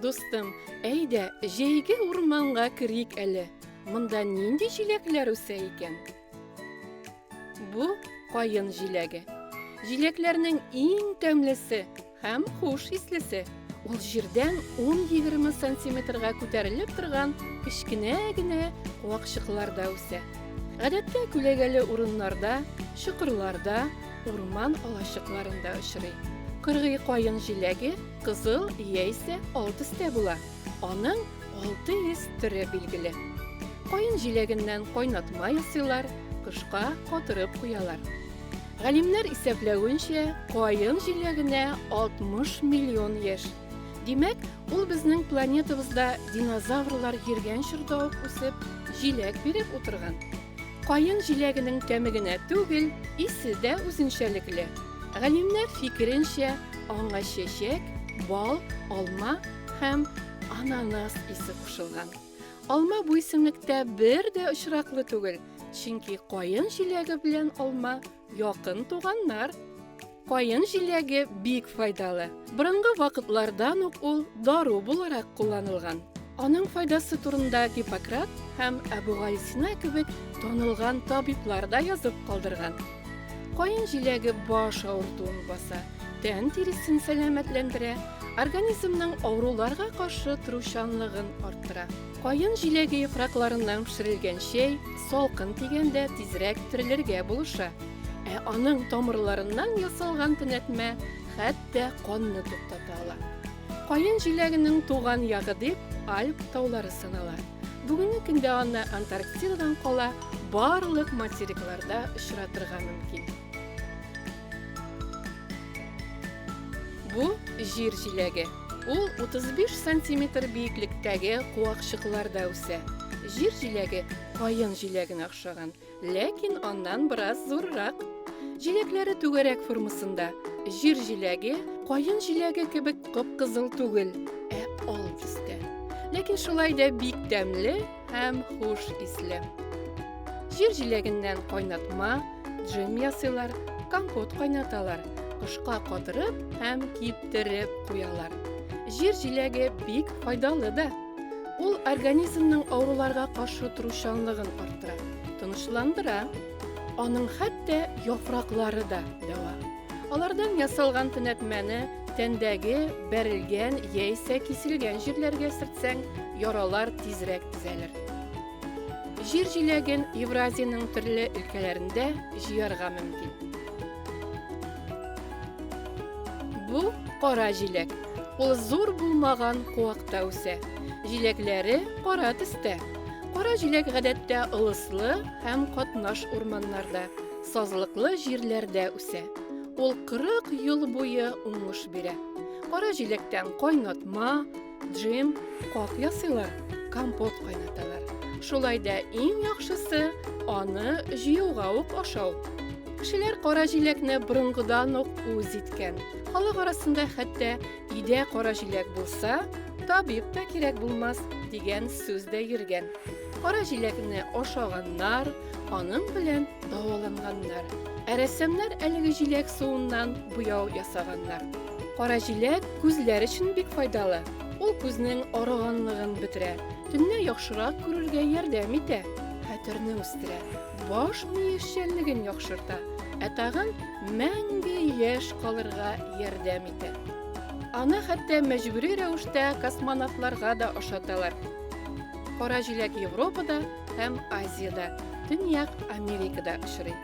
Дустым, әйдә, җәйге урманга керик әле. Монда нинди җиләкләр үсә икән? Бу каен җиләге. Җиләкләрнең иң тәмлесе Һәм хуш ислесе. Ул җирдән 10-20 сантиметрга күтәрелеп торган кечкенә генә вакчыкларда үсә. Гадәттә күләгәле урыннарда, чокырларда, урман алачыкларында очрый. Кыргый каен җиләге кызыл яисә ал төстә була. Аның 600 төре билгеле. Каен җиләгеннән кайнатма ясыйлар, кышка катырып куялар. Галимнәр исәпләвенчә, каен җиләгенә 60 миллион яшь. Димәк, ул безнең планетабызда динозаврлар йөргән чорда ук үсеп, җиләк биреп утырган. Каен җиләгенең тәме генә түгел, исе дә үзенчәлекле. Галимнәр фикеренчә, аңа чәчәк, бал, алма һәм ананас исе кушылган. Алма бу исемлектә бер дә очраклы түгел, чөнки каен җиләге белән алма якын туганнар. Каен җиләге бик файдалы. Борынгы вакытлардан ук ул дару буларак кулланылган. Аның файдасы турында Гиппократ һәм Әбүгалисина кебек танылган табиблар да язып калдырган. Каен җиләге баш авыртуын баса, тән тиресен сәламәтләндерә, организмның авыруларга каршы торучанлыгын арттыра. Каен җиләге яфракларыннан пешерелгән чәй салкын тигәндә тизрәк терелергә булыша, ә аның тамырларыннан ясалган төнәтмә хәтта канны туктата ала. Каен җиләгенең туган ягы дип Альп таулары санала. Бүгенге көндә аны Антарктидадан кала барлык материкларда очратырга мөмкин. Бу җир җиләге. Ул 35 сантиметр биеклектәге куакчыкларда үсә. Җир җиләге каен җиләгенә охшаган. Ләкин аннан бераз зуррак. Җиләкләре түгәрәк формасында. Җир җиләге, каен җиләге кебек кып-кызыл түгел, ә ал төстә. Ләкин шулай да бик тәмле һәм хуш исле. Җир җиләгеннән кайнатма, джем ясыйлар, компот кайнаталар, кышка катырып һәм киптереп куялар. Җир җиләге бик файдалы да. Ул организмның авыруларга каршы торучанлыгын арттыра, тынычландыра. Аның хәтта яфраклары да дәва. Алардан ясалган төнәтмәне тәндәге бәрелгән яисә киселгән җирләргә сөртсәң, яралар тизрәк төзәлер. Җир җиләген Евразиянең төрле өлкәләрендә җыярга мөмкин. Бу кара җиләк. Ул зур булмаган куакта үсә. Җиләкләре кара төстә. Кара җиләк гадәттә ылыслы һәм катнаш урманнарда, сазлыклы җирләрдә үсә. Ул 40 ел буе уңыш бирә. Кара җиләктән кайнатма, Джем, кап ясыйлар, компот кайнаталар. Шулай да иң яхшысы аны җыюга ук ашау. Кешеләр кара җиләкне борынгыдан ук үз иткән. Халык арасында хәтта идә кара җиләк булса, табиб та кирәк булмас дигән сүз дә йөргән. Кара җиләкне ашаганнар, аның белән дәваланганнар. Ә рәссамнар әлеге җиләк суыннан буяу ясаганнар. Кара җиләк күзләр өчен бик файдалы. Ул күзнең арыганлыгын бетерә, төнлә яхшырак күрергә ярдәм итә, хәтерне үстерә, баш мие эшчәнлеген яхшырта, ә тагын мәңге яшь калырга ярдәм итә. Аны хәтта мәҗбүри рәвештә космонавтларга да ашаталар. Кара җиләк Европада һәм Азиядә, Төньяк Америкада очрый.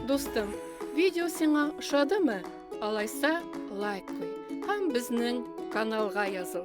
Дустым, видео сиңа ошадымы? Алайса, лайк куй һәм безнең каналга языл.